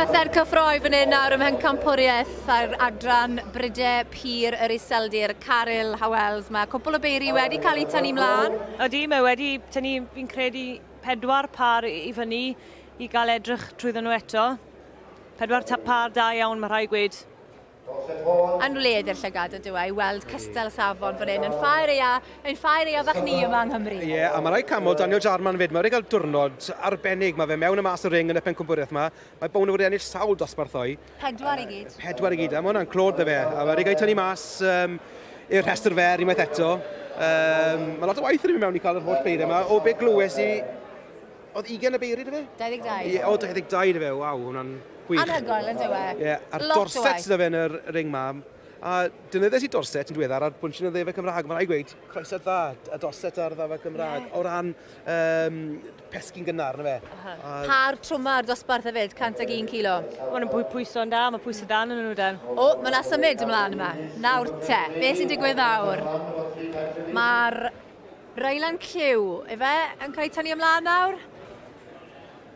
Byddai'r cyffroi fan hyn nawr ym Mhencampwriaeth ar adran Bryde Pur yr Iseldir, Caryl Howells. Mae cwpl o beiri wedi cael eu tynnu mlaen. Ydy, mae wedi tynnu, fi'n credu, pedwar par i fyny i gael edrych trwyddo nhw eto. Pedwar par da iawn, mae rhai gweud. Yn wledd i'r llygad ydw a i weld cystel safon fan hyn yn ffair eia, ein ffair eia fach ni yma yng Nghymru. Ie, a mae rhai camol, Daniel Jarman 'fyd, mae wedi cael diwrnod arbennig, mae fe mewn a mas y ring yn y pencampwriaeth yma, mae Bowney wedi ennill sawl dosbarthau. Pedwar i gyd. Pedwar i gyd, a mae hwnna'n clod da fe, a mae wedi cael ei tynnu mas um, i'r rhestr fer unwaith eto. Um, mae lot o waith yn mynd mewn i cael yr holl beiriau yma, o be glywes i Oedd 20 y beiri, da fe? 22. Ie, o, 22 da fe, waw, hwnna'n gwych. Anhygoel, yn dywe. Ie, yeah, a'r dorset da fe yn yr ring ma. A dynyddes i dorset yn diweddar ar bwnsyn y ddefa Cymraeg. Mae'n rhaid gweud, croeso'r dda, y dorset ar ddefa Cymraeg. Yeah. O ran um, pesgi'n gynnar, na fe. Uh -huh. a... Pa'r trwma ar dosbarth hefyd, 101 kilo. Mae'n pwy pwyso'n da, mae pwysau dan yn nhw dan. O, mae yna symud ymlaen yma. Nawr te, beth sy'n digwydd nawr? Mae'r Rylan Clyw, efe, yn cael ei tynnu ymlaen nawr.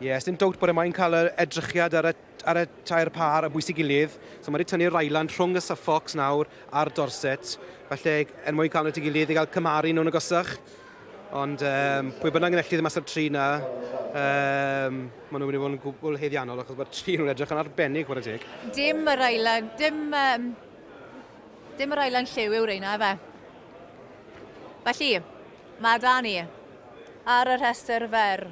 Ie, yeah, dim dowt bod e mae'n cael yr edrychiad ar y, ar y tair pâr a bwysig gilydd. So mae wedi tynnu Rylan rhwng y Suffolks nawr a'r Dorset. Felly, er mwyn cael nhw at ei gilydd i gael cymharu nhw'n agosach. Ond um, pwy bynnag yn ellid y masaf tri na, um, maen nhw'n mynd i fod yn gwbl heddiannol achos mae'r tri nhw'n edrych yn arbennig bod y teg. Dim yr ailan, dim, um, dim yr ailan lliw yw reina efe. Felly, mae 'da ni ar y rhestr fer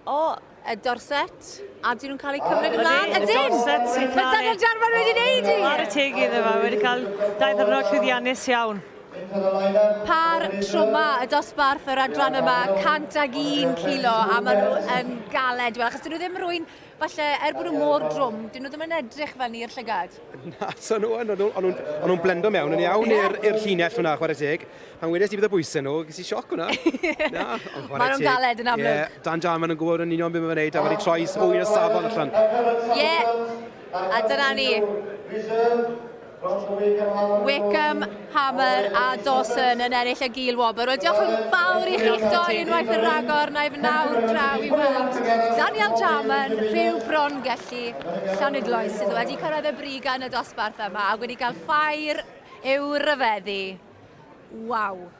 o y Dorset, a dyn nhw'n cael eu cymryd ymlaen. Ydyn! Dorset sy'n cael... Mae Daniel Jarman wedi neud i! Ar y teg iddo fe, wedi cael dau ddwrnod llwyddiannus iawn. Par trwma y dosbarth yr adran yma, 101 kilo, a maen nhw yn galed. Wel, achos dyn nhw ddim rwy'n Falle, er bod nhw mor drwm, dyn nhw ddim yn edrych fel ni'r llygad. Na, so nhw yn, o'n nhw'n blendo mewn yn iawn i'r llinell hwnna, chwarae teg. Pan wedes i bydd y bwysau nhw, ges i sioc hwnna. Na, ond chwarae Maen nhw'n galed yn amlwg. Yeah, Dan Jarman yn gwybod yn union beth mae'n gwneud, a wedi troi hwy yn y safon allan. Ie, yeah. a dyna ni. Wickham, Hammer a Dawson yn ennill y gil wobr. Wel, diolch yn fawr i chi'ch doi unwaith yn rhagor, na i fy nawr draw i weld Daniel Jarman, rhyw bron gellu Llanidloes sydd wedi cyrraedd y brig yn y dosbarth yma a wedi cael ffair i'w ryfeddu. Waw!